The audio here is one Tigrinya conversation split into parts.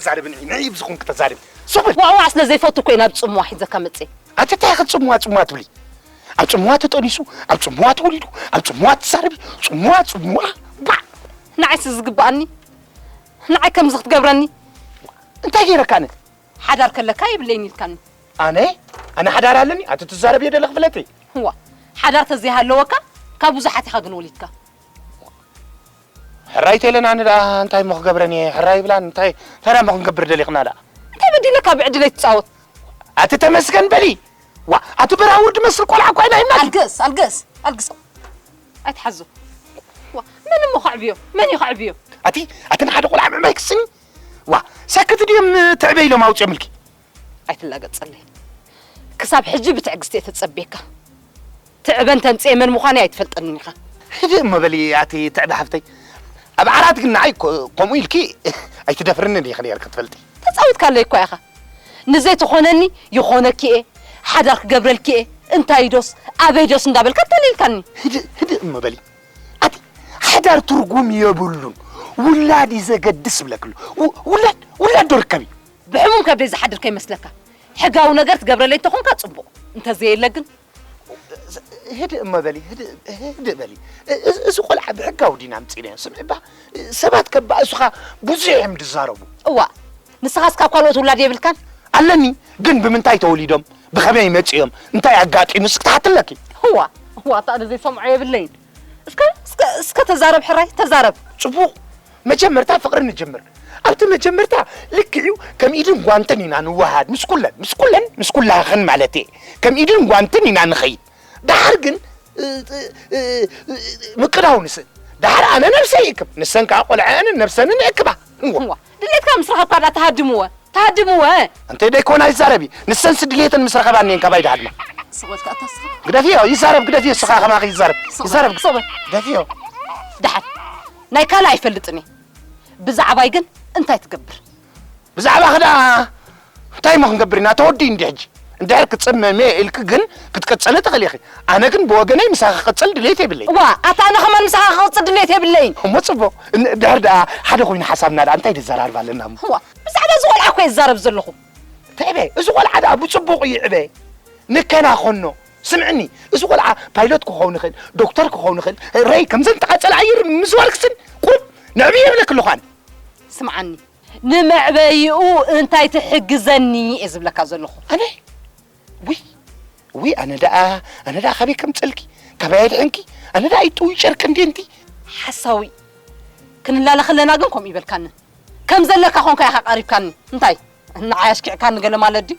ተዛርብኒ ንዕይ ብዝኹን ክተዛርብ ሱብል ዋዋ ስለ ዘይፈቱ እኮ ናብ ፅምዋ ሒዘካ መፅእ ኣቲ እንታይ ኢኸ ፅምዋ ፅምዋ ትብሊ ኣብ ፅምዋ ተጠኒሱ ኣብ ፅምዋ ተወሊዱ ኣብ ፅምዋ ትዛረቢ ፅምዋ ፅምዋ ባዕ ንዓይስ ዝግብኣኒ ንዓይ ከምዚ ክትገብረኒ እንታይ ገይረካ ኣነ? ሓዳር ከለካ የብለይን ኢልካኒ። ኣነ? ኣነ ሓዳር ኣለኒ? ኣቲ ትዛረብ እየ ደለኽ ፍለጢ። እዋ ሓዳር ተዘይሃለወካ ካብ ብዙሓት ኢኻ ግን ወሊድካ። ሕራይ ተይለን ኣነ ደኣ እንታይ እሞ ክገብረን እየ ሕራይ ይብላን እንታይ እንታይ ደኣ እሞ ክንገብር ደሊኽና ደኣ እንታይ በዲለካ ብዕድለይ ትጻወት ኣቲ ተመስገን በሊ ዋ ኣቲ በራውር ድመስል ቆልዓ እኳ ኢና ሂብና ኣልግስ ኣልግስ ኣልግሶ ኣይትሓዞ ዋ መን እሞ ከዕብዮ መን እዩ ከዕብዮ ኣቲ ኣቲ ንሓደ ቆልዓ ምዕባይ ክስኒ ዋ ሰክት ድዮም ትዕበ ኢሎም ኣውፅኦምልኪ? ኣይትላገፀለይ ክሳብ ሕጂ ብትዕግስቲ እየ ተፀብየካ ትዕበ እንተምፅኤ መን ምዃነይ ኣይትፈልጠንን ኢኻ። ሕድእ እሞ በሊ ኣቲ ትዕበ ሓፍተይ ኣብ ዓራት ግን ንዓይ ከምኡ ኢልኪ ኣይትደፍርንን ኢኺ ነይርኪ ትፈልጢ። ተፃዊትካለይ እኳ ኢኻ ንዘይትኾነኒ ይኾነኪ እየ ሓዳር ክገብረልኪ እየ እንታይ ዶስ ኣበይ ዶስ እንዳበልካ ኣታሊልካኒ። ህድእ ህድእ እሞ በሊ ኣቲ ሓዳር ትርጉም የብሉን ውላድ እዩ ዘገድስ ብለክሉ ውላድ ውላድ ዶ ርከብ እዩ ብሕሙም ከብደይ ዝሓድር ከይመስለካ ሕጋዊ ነገር ትገብረለይ እንተኾንካ ጽቡቕ እንተዘየለ ግን ህድእ እሞ በሊ ህድእ በሊ እዚ ቆልዓ ብሕጋዊ ዲና ኣምፂእናዮ ስምዒ እባ ሰባት ከባእሱኻ ብዙሕ እዮም ዝዛረቡ እዋ ንስኻስ ካብ ካልኦት ውላድ የብልካን ኣለኒ ግን ብምንታይ ተወሊዶም ብኸመይ መጺኦም እንታይ ኣጋጢሙስ ክትሓቲ ኣለኪ። እዋ እዋ ኣታ ኣነ ዘይሰምዖ የብለይን። እስከ እስከ እስከ ተዛረብ ሕራይ ተዛረብ። ጽቡቕ መጀመርታ ፍቕሪ ንጅምር። ኣብቲ መጀመርታ ልክዕዩ ከም ኢድን ጓንትን ኢና ንወሃሃድ ምስ ኩለን ምስ ኩለን ምስ ኩላህኽን ማለትየ ከም ኢድን ጓንትን ኢና ንኸይድ ደሓር ግን ምቅዳው ንስን ደሓር ኣነ ነብሰይ ይእክብ ንሰን ከኣ ቆልዐአንን ነብሰንን የእክባ። እዋ ድሌትካ ምስ ረኸብካ ድኣ ትሃድምወ ትሃድምወ። እንተ ደይኮና ይዛረቢ ንሰንስ ድልየተን ምስ ረኸባ እኒኤን ካባይ ድሃድማ። ስቕ በል ከኣ እታ ስኻ። ግደፍዮ ይዛረብ ግደፍዮ እሱ ከኣ ከማኺ ይዛረብ ይዛረብ ስቕ በል። ግደፍዮ። ደሓን ናይ ካልእ ኣይፈልጥን እየ ብዛዕባይ ግን እንታይ ትገብር? ብዛዕባኺ ድኣ እንታይ እሞ ክንገብር ኢና ተወዲኡ እንድዩ ሕጂ እንድሕር ክጽመም እየ ኢልኪ ግን ክትቅጽሊ ትኽእሊ ኢኺ ኣነ ግን ብወገነይ ምሳኺ ክቅጽል ድሌት የብለይን። እዋ ኣታ ኣነ ከማን ምሳኻ ክቅጽል ድሌት የብለይን። እሞ ጽቡቅ እንድሕር ደኣ ሓደ ኮይኑ ሓሳብና ደኣ እንታይ ንዘራርብ ኣለና እሞ። እዋ ብዛዕባ እዚ ቆልዓ እኮ እየ ዝዛረብ ዘለኹ። ትዕበ እዚ ቆልዓ ደኣ ብጽቡቅ ይዕበ ንከናኸኖ ስምዕኒ እዚ ቆልዓ ፓይሎት ክኸውን ይኽእል ዶክተር ክኸውን ይኽእል ረይ ከምዘን ተቃጸላ ኣየር ምዝዋር ክስን ቁሩብ ነዕብዮ ይብለኪ ኣለኹ ኣነ። ስምዓኒ ንመዕበይኡ እንታይ ትሕግዘኒ እየ ዝብለካ ዘለኹ። ኣነ ውይ ውይ ኣነ ደኣ ኣነ ደኣ ካበይ ከምፅእልኪ ካበይ ኣየድሕንኪ ኣነ ደኣ ይጥውይ ጨርቂ እንዴ እንቲ ሓሳዊ ክንላለ ከለና ግን ከምኡ ይበልካኒ ከም ዘለካ ኮንካ ኢኻ ቀሪብካኒ እንታይ ንዓይ ኣሽኪዕካኒ ገለ ማለት ድዩ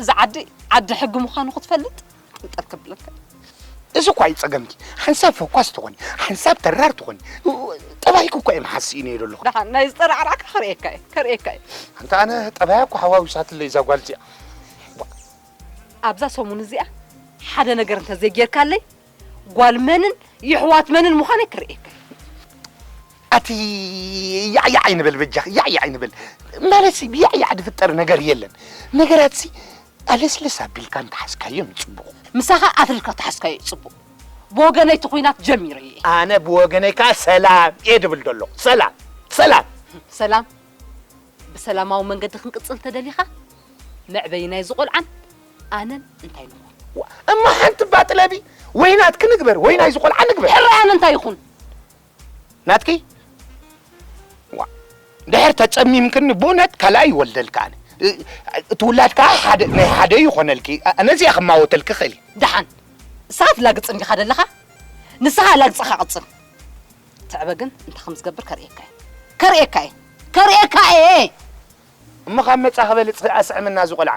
እዚ ዓዲ ዓዲ ሕጊ ምዃኑ ክትፈልጥ ጥንቅር ክብለካ እዩ። እዚ እኳ እዩ ጸገምኪ፣ ሓንሳብ ፈኳስ ትኾኒ፣ ሓንሳብ ተራር ትኾኒ፣ ጠባይኪ እኳ እዩ መሓዝ ስኢነዮ ዘለኹ። ደሓን ናይ ዝጠራዕራዕካ ከርእየካ እየ ከርእየካ እየ። ኣንታ ኣነ ጠባያ እኳ ሓዋዊሳትለይ እዛ ጓል እዚኣ። ኣብዛ ሰሙን እዚኣ ሓደ ነገር እንተዘይጌርካለይ ጓል መንን የሕዋት መንን ምዃነይ ክርእየካ ኣቲ ያዕያዕ ኣይንበል በጃኺ ያዕያዕ ኣይንበል ማለትሲ ብያዕያዕ ዝፍጠር ነገር የለን ነገራትሲ ኣለስለስ ኣቢልካ እንተሓዝካዮ ንጽቡቕ ምሳኻ ኣትሪርካ ተሓዝካዮ እዩ ጽቡቕ ብወገነይ እቲ ኹናት ጀሚረ እየ ኣነ ብወገነይ ከዓ ሰላም እየ ድብል ዘሎ ሰላም ሰላም ሰላም ብሰላማዊ መንገዲ ክንቅጽል ተደሊኻ መዕበይናይ ዝቖልዓን ኣነን እንታይ ንኹን? እማ ሓንቲ እባ ጥለቢ፣ ወይ ናትኪ ንግበር ወይ ናይዚ ቆልዓ ንግበር። ሕራይ ኣነ እንታይ ይኹን? ናትኪ? ዋእ ድሕር ተጸሚምክኒ ብኡነት ካልኣይ ይወልደልኪ ኣነ። እቲ ውላድ ከኣ ሓደ ናይ ሓደ ይኾነልኪ። ነዚ እየ ክማወተልኪ ክእል እየ። ደሓን ንስኻ ትላግጽ እንዲኻ ደለኻ፣ ንስኻ ላግጽኻ ቅጽል። ትዕበ ግን እንታይ ከም ዝገብር ከርእየካ እየ ከርእየካ እየ ከርእየካ እየ። እሞ ካብ መጻኺ በልጽ ኣስዕምና እዚ ቆልዓ።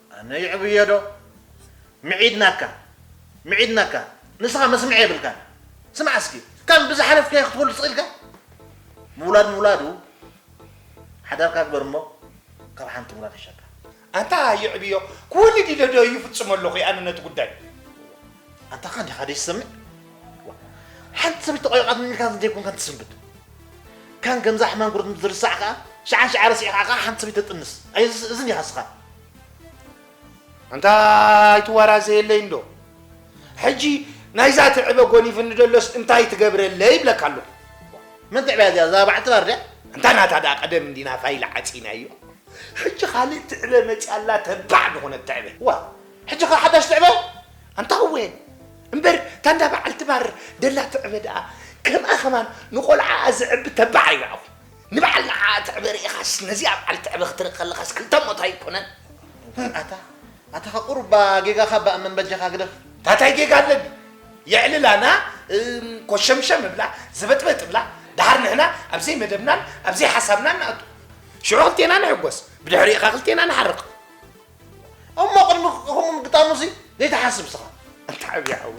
ኣነ ይዕብዮ ዶ ምዒድናካ ምዒድናካ ንስኻ መስምዒ የብልካን ስማዕ እስኪ ከም ብዝሓለፍካዮ ክትበሉ ስቅ ኢልካ ምውላድ ምውላዱ ሓዳርካ ግበር እሞ ካብ ሓንቲ ምውላድ ይሻካ ኣታ ይዕብዮ ክወልድ ኢለ ዶ ይፍጽሞ ኣለኹ ኣነ ነቲ ጉዳይ ኣንታ ኸ ዲኻ ዘይትሰምዕ ሓንቲ ሰበይቲ ቆይቃትኒ ኢልካ ዘይኮንካ ትስንብድ ካን ከምዛ ሕማም ጉርት ምስ ዝርሳዕ ከዓ ሽዓን ሽዓ ረሲዕካ ከዓ ሓንቲ ሰበይቲ ተጥንስ ኣይ እዝን ኢኻ ስኻ ኣንታ ኣይትዋራዘ የለይ እንዶ ሕጂ ናይዛ ትዕበ ጎኒፍኒ ደሎስ እንታይ ትገብረለ ይብለካ ኣለኹ መን ትዕበያ እዚኣ እዛ በዓልቲ ባር ድያ እንታ ናታ ደኣ ቀደም እንዲና ፋይል ዓፂናዮ ሕጂ ካልእ ትዕበ መፅያ ኣላ ተባዕ ዝኾነት ትዕበ ዋ ሕጂ ከ ሓዳሽ ትዕበ ኣንታ ወን እምበር እታ እንዳ በዓልቲ ባር ደላ ትዕበ ደኣ ከምኣ ከማን ንቆልዓኣ ዘዕቢ ተባዕ ኣይበዕኹ ንበዓል ንዓኣ ትዕበ ርኢኻስ ነዚኣ በዓል ትዕበ ክትርኢ ከለኻስ ክልተ ሞት ኣይኮነን ኣታ ኣታ ከ ቁሩብ ባ ጌጋኻ ባእ መን በጃኻ ግደፍ ታታይ ጌጋ ኣለኒ የዕልላና ኮሸምሸም እብላ ዘበጥበጥ እብላ ደሓር ንሕና ኣብ ዘይመደብናን ኣብ ዘይሓሳብናን ንኣቱ ሽዑ ክልቴና ንሕጎስ ብድሕሪኡ ኸ ክልቴና ንሓርቕ እሞ ቅድሚ ከምኡ ምግጣሙሲ ዘይትሓስብ ስኻ ኣንታ ዓብዪ ሓዊ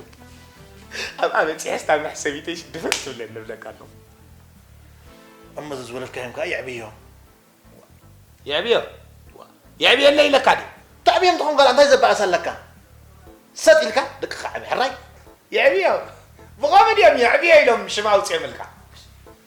ኣብኣ በፂሐስ ናብ መሕሰቢተይሽ ድፍእ ትብለኒ ንብለካ ኣለኹ እሞ እዚ ዝወለድካዮም ከዓ የዕብዮ የዕብዮ የዕብየለይ ኢለካ ድዩ ተዕብዮም ትኾን ጋል እንታይ ዘበኣስ ኣለካ ሰጥ ኢልካ ደቅኻ ዓብ ሕራይ የዕብዮ ብኸመድ እዮም የዕብዮ ኢሎም ሽም ኣውፅኦምልካ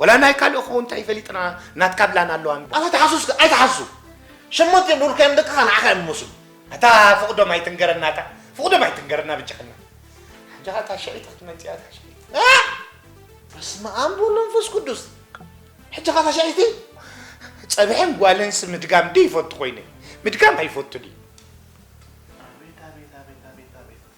ወላ ናይ ካልእ ክኸውን እንታይ ፈሊጥና ናትካ ብላን ኣለዋ እንበር። ኣታ ተሓሱስካ ኣይተሓስሱ ሸሞንተ ዝብሉልካዮም ደቅኻ ንዓኻ እዮም ዝመስሉ። ኣታ ፍቅዶም ኣይትንገረና ኣታ ፍቅዶም ኣይትንገረና ብጀኽና ሕጂ ከኣ እታ ሽዒት ክትመጽእ እያ እታ ሽዒት ኣሕ በስመኣም ብወልድ መንፈስ ቅዱስ ሕጂ ከኣ እታ ሽዒቲ ጸብሕን ጓልንስ ምድጋም ዶ ይፈቱ ኮይነ ምድጋም ኣይፈቱን እዩ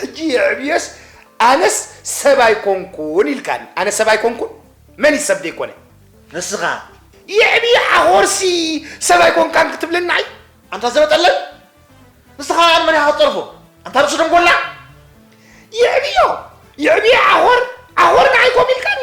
ሕጂ የዕብዮስ ኣነስ ሰብ ኣይኮንኩን ኢልካኒ ኣነ ሰብ ኣይኮንኩን መን እዩ ሰብ ዘይኮነ ንስኻ የዕብዮ ሓኾርሲ ሰብ ኣይኮንካን ክትብለና እዩ ኣንታ ዘበጠለል ንስኻ ኣን መን ኢኻ ክትጠርፎ ኣንታ ርእሲ ደንጎላ የዕብዮ የዕብዮ ዓኾር ዓኾር ንዓይ ኮም ኢልካኒ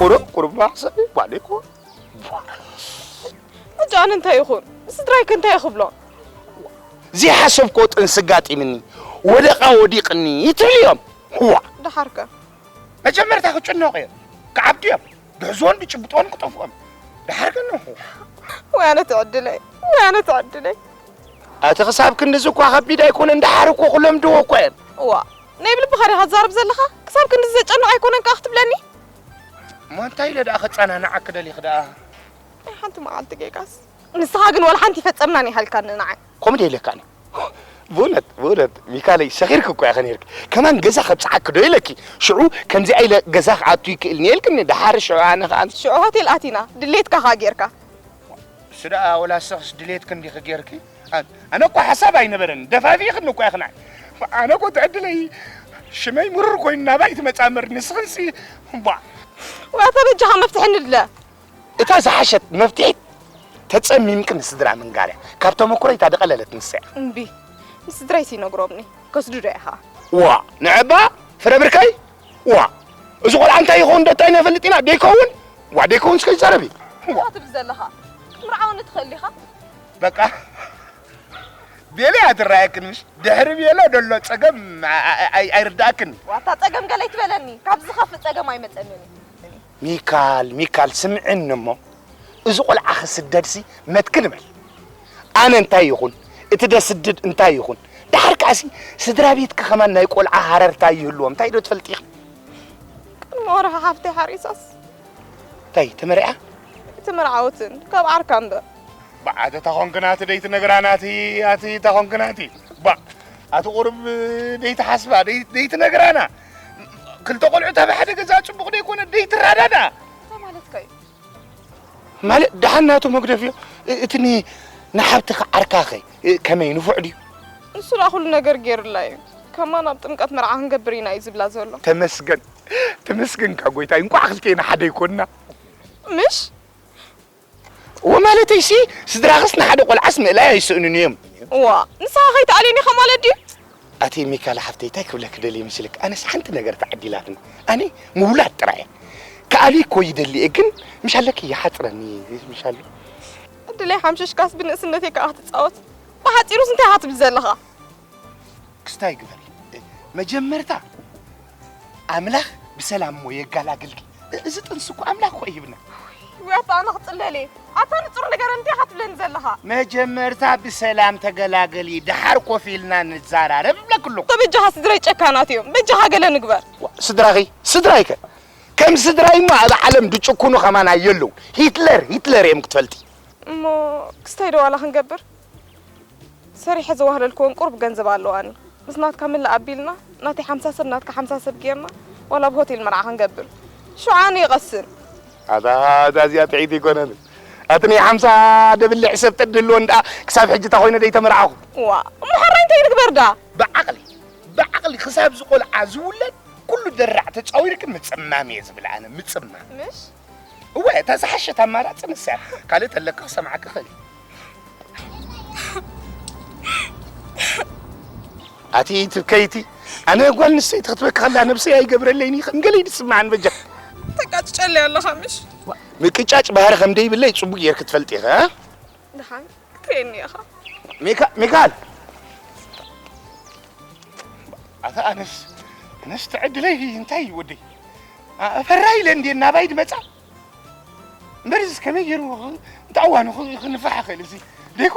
ቁሩብ ቁሩብ ማሕሰብ ይባል ይኮን ሕጂ ኣነ እንታይ ይኹን ስድራይ ከ እንታይ ክብሎ ዘይሓሰብኮ ጥንሲ ኣጋጢምኒ ወደቓ ወዲቕኒ ትብል እዮም ዋ ደሓር ከ መጀመርታ ክጭነቑ እዮም ክዓብዱ እዮም ድሕዝዎን ድጭብጦን ክጠፍኦም ደሓር ግን ወይ ኣነ ትዕድለይ ወይ ኣነ ትዕድለይ እቲ ክሳብ ክንድዚ እኳ ከቢድ ኣይኮነን ደሓር እኮ ክለምድዎ እኳ እዮም ዋ ናይ ብልብኻ ዲኻ ትዛረብ ዘለኻ? ክሳብ ክንድዚ ዘጨንቕ ኣይኮነን ከኣ ክትብለኒ? እሞ እንታይ ኢለ ደኣ ከጻናንዓኪ ደሊኺ ደኣ? ናይ ሓንቲ መዓልቲ ጌጋስ ንስኻ ግን ዋላ ሓንቲ ይፈጸምናን ኣይሃልካን ንዓይ። ከምኡ ዶ ኢለካ ኣነ? ብእውነት ብእውነት ሚካለይ ሰኺርኪ እኮ ኢኺ ኔርኪ። ከማን ገዛ ከብጽሓኪ ዶ ኢለኪ? ሽዑ ከምዚኣ ኢለ ገዛ ክኣቱ ይክእል እኒየ ኢልክኒ። ደሓር ሽዑ ኣነ ከኣ ሽዑ ሆቴል ኣቲና ድሌትካ ከኣ ጌርካ። እሱ ደኣ ወላ ንስኽስ ድሌትኪ እንዲኺ ጌርኪ። ኣነ እኳ ሓሳብ ኣይነበረን ደፋፊ ክን እኳ ይኽናዕ ኣነ እኮ ትዕድለይ ሽመይ ምሩር ኮይኑ ናባይ ትመፃ ምር ንስኽንሲ ቧ ዋታ በጃኻ መፍትሒ ንድለ እታ ዝሓሸት መፍትሒት ተፀሚምክ ንስድራ ምንጋርያ ካብ ተመኩረይ እታ ደቐለለት ንሰያ እምቢ ንስድራይ ሲነግሮምኒ ከስዱ ዶ ኢኻ ዋ ንዕባ ፍረ ብርከይ ዋ እዚ ቆልዓ እንታይ ይኸውን ዶ እንታይ ነፈልጥ ኢና ደይከውን ዋ ደይከውን ስከ ይዛረብ እዩ ትብል ዘለኻ ክትምርዓወኒ ትኽእል ኢኻ በቃ ቤለያ ትረኣየክን ምሽ ድሕሪ ቤለ ደሎ ፀገም ኣይርዳእክን ዋታ ፀገም ገለ ይትበለኒ ካብ ዝኸፍእ ፀገም ኣይመፀንን እዩ ሚካል ሚካል ስምዕኒ እሞ እዚ ቆልዓ ክስደድሲ መትክል በል ኣነ እንታይ ይኹን እቲ ደስድድ እንታይ ይኹን ድሓር ከዓሲ ስድራ ቤትኪ ከማን ናይ ቆልዓ ሃረርታ ይህልዎ እንታይ ዶ ትፈልጢ ኢኺ ቅድሚ ወርሒ ሓፍተይ ሓሪሳስ እንታይ ተመሪዓ እቲ መርዓውትን ካብ ዓርካ እምበር ባዓተ ታኾንክናቲ ደይቲ ነግራናቲ ኣቲ ታኾንክናቲ ባ ኣቲ ቁርብ ደይቲ ሓስባ ደይቲ ነግራና ክልተ ቆልዑ ታብ ሓደ ገዛ ፅቡቕ ደይኮነ ደይቲ ራዳዳ ማለት ደሓን ናቱ መግደፍ እዩ እቲ ንሓብትኻ ዓርካኸ ከመይ ንፉዕ ድዩ ንሱ ላ ኩሉ ነገር ገይሩላ እዩ ከማን ኣብ ጥምቀት መርዓ ክንገብር ኢና እዩ ዝብላ ዘሎ ተመስገን ተመስገንካ ጎይታይ እንኳዕ ክልቴና ሓደ ይኮንና ምሽ እወ ማለተይሲ ስድራኽስ ንሓደ ቆልዓስ ምእላይ ኣይስእኑን እዮም። እዋእ ንስኻ ከይትኣልየኒ ኢኻ ማለት ድዩ? ኣቲ ሚካላ ሓፍተይ ታይ ክብለኪ ደልየ መስልኪ ኣነስ ሓንቲ ነገር ተዓዲላትኒ ኣነ ምውላድ ጥራይ እየ ክኣልይ እኮ ይደሊ እየ ግን ምሻለኪ ይሓፅረኒ እዩ ምሻሉ ዕድለይ ሓምሽሽካስ ብንእስነተይ ከዓ ክትፃወት ብሓፂሩስ እንታይ ኢኻ ትብል ዘለኻ ክስታይ ግበሪ መጀመርታ ኣምላኽ ብሰላም እሞ የጋላግልኪ እዚ ጥንሲ እኮ ኣምላኽ እኮ ይህብና ወይ ኣታ ኣነ ክፅለል እየ ኣታ ንፁር ነገር እንታይ ካትብለኒ ዘለኻ መጀመርታ ብሰላም ተገላገሊ ደሓር ኮፍ ኢልና ንዘራረብ እብለክ ኣለኹ በጃኻ ስድረይ ጨካናት እዮም በጃኻ ገለ ንግበር ስድራኺ ስድራይከ ከም ስድራይ እሞ ኣብ ዓለም ድጭኩኑ ከማና የለው ሂትለር ሂትለር እዮም ክትፈልጢ እሞ ክስታይ ዶ ዋላ ክንገብር ሰሪሐ ዘዋህለልክወን ቁሩብ ገንዘብ ኣለዋኒ ምስ ናትካ ምልእ ኣቢልና ናተይ ሓምሳ ሰብ ናትካ ሓምሳ ሰብ ጌርና ዋላ ኣብ ሆቴል መርዓ ክንገብር ሽዑ ኣነ ይቐስን። ኣታ እዛ እዚኣ ጥዒቲ ኣይኮነትን ኣቲ ናይ ሓምሳ ደብልዕ ሰብ ተድህልወን ደኣ ክሳብ ሕጂ እታ ኮይነ ደይተመርዓኹ። እዋ እሞ ሐራይ እንታይ ንግበር ደኣ። ብዓቕሊ ብዓቕሊ ክሳብ እዚ ቆልዓ ዝውለድ ኩሉ ደራዕ ተጻዊርኪ ምጽማም እየ ዝብል ኣነ ምጽማም። ምሽ እወ እታ ዝሓሸት ኣማራፂ ንሳ እያ ካልእ ተለካ ክሰምዓካ ይኽእል እዩ ኣቲ ትብከይቲ ኣነ ጓል ንሰይቲ ክትበካ ከላ ነብሰይ ኣይገብረለይን እዩ ከም ገለይ ዝስምዓን በጃ ተቃጭጨለይ ኣለኻ ምሽ ምቅጫጭ ባህሪ ከም ደይብለይ ፅቡቅ ጌርክ ትፈልጥ ኢኻ ድሓን ክትርእየኒ ኢኻ ሚካል ኣታ ኣነስ ኣነስ ትዕድለይ እንታይ እዩ ወደይ ፈራ ኢለ እንዴ ናባይ ድመፃ እምበርስ ከመይ ገይሩ እንታይ እዋኑ ክንፋሕ ይኽእል እዚ ደይኮ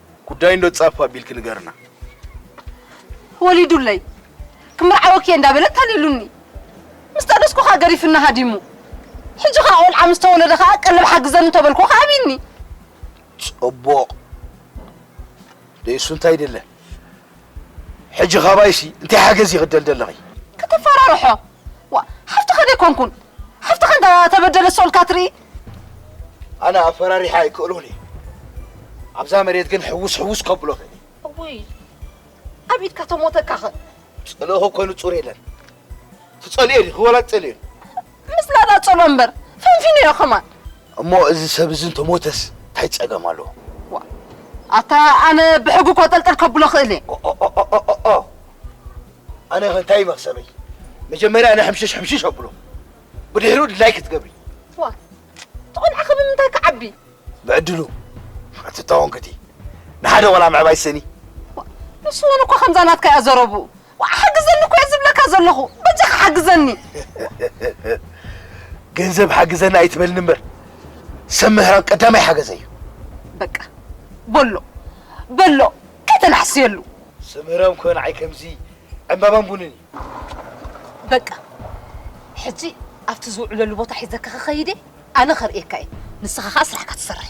ጉዳይ እንዶ ጻፍ ኣቢልኪ ንገርና። ወሊዱለይ ክምርዓወኪ እየ እንዳበለ ኣታሊሉኒ ምስ ጠነስኩ ከኣ ገሪፍኒ ሃዲሙ ሕጂ ከኣ ቆልዓ ምስ ተወለደ ከኣ ቀለብ ሓግዘኒ እንተበልኩ ከኣ ኣብዩኒ ጽቡቕ ደይሱ እንታይ ደለ ሕጂ ካባይሲ እንታይ ሓገዝ ይኽደል ደለኺ? ከተፈራርሖ ዋእ ሓፍትኻ ዶ ኣይኮንኩን ሓፍትኻ እንዳ ተበደለት ስቕ ኢልካ ትርኢ ኣነ ኣፈራሪሓ ኣይክእሎን እየ ኣብዛ መሬት ግን ሕውስ ሕውስ ከብሎ እኽእል እየ እውይ ኣብ ኢድካ ተሞተካ ኸ ፅልኦ እኮ ንፁር የለን ትፀልዮ ዲኺ ወላ ትፀልዮ ምስ ላዳ ፀሎ እምበር ፈንፊነዮ ከማን እሞ እዚ ሰብ እዚ እንተሞተስ እንታይ ፀገም ኣለዎ ኣታ ኣነ ብሕጉ ኮጠልጠል ከብሎ እኽእል እየ ኣነ ከ እንታይ እዩ መክሰበይ መጀመርያ ኣነ ሕምሽሽ ሕምሽሽ ኣብሎ ብድሕሪኡ ድላይ ክትገብሪ ዋ እቲ ቆልዓ ከ ብምንታይ ክዓቢ ብዕድሉ ኣቲ ተወንክቲ ንሓደ ቆልዓ ምዕባይ ስእኒ ንሱ እውን እኮ ከምዛ ናትካ እያ ዘረብኡ ዋ ሓግዘኒ እኮ እየ ዝብለካ ዘለኹ በጃኻ ሓግዘኒ ገንዘብ ሓግዘኒ ኣይትበልኒ እምበር ሰብ ምህራም ቀዳማይ ሓገዘ እዩ በቃ በሎ በሎ ኣይተናሕስየሉ። ስምህረም እኮ ንዓይ ከምዚ ዕምባባን ቡንን እዩ። በቃ ሕጂ ኣብቲ ዝውዕለሉ ቦታ ሒዘካ ክኸይድ እየ፣ ኣነ ከርእየካ እየ፣ ንስኻ ከኣ ስራሕካ ትሰርሕ።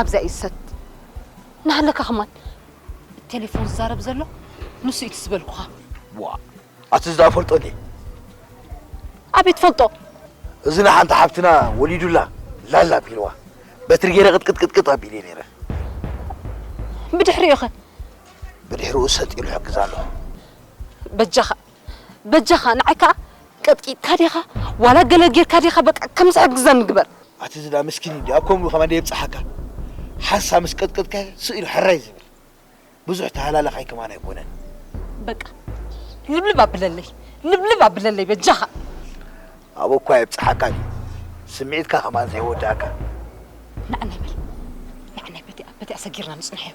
ኣብዛ እዩ ዝሰት ናሃለካ ከማን ቴሌፎን ዝዛረብ ዘሎ ንሱ እዩ ዝበልኩኻ ዋ ኣቲ ዝዳ ፈልጦ ድ ኣቤት ፈልጦ እዚ ንሓንቲ ሓብትና ወሊዱላ ላላ ኣቢልዋ በትሪ ገይረ ቅጥቅጥቅጥቅጥ ኣቢለ ነይረ ብድሕሪኡ ኸ ብድሕርኡ ሰጥ ኢሉ ይሕግዛ ኣሎ። በጃኻ በጃኻ ንዓይ ከኣ ቀጥቂጥካ ዲኻ ዋላ ገለ ጌርካ ዲኻ በቃ ከም ዝሕግዘኒ ግበር። ኣቲ ዝላ ምስኪን እንድዩ ኣብ ከምኡ ከማን የብጽሓካ ሓንሳብ ምስ ቀጥቅጥካዮ ስቅ ኢሉ ሕራይ ዝብል ብዙሕ ተሃላላኻይ ከማን ኣይኮነን። በቃ ልብልብ ኣብለለይ ልብልብ ኣብለለይ በጃኻ። ኣብኡ እኳ የብጽሓካ ድዩ ስምዒትካ ከማን ዘይወደኣካ። ናዕናይ በል ናዕናይ በቲኣ በቲኣ ሰጊርና ንጽንሖዮ።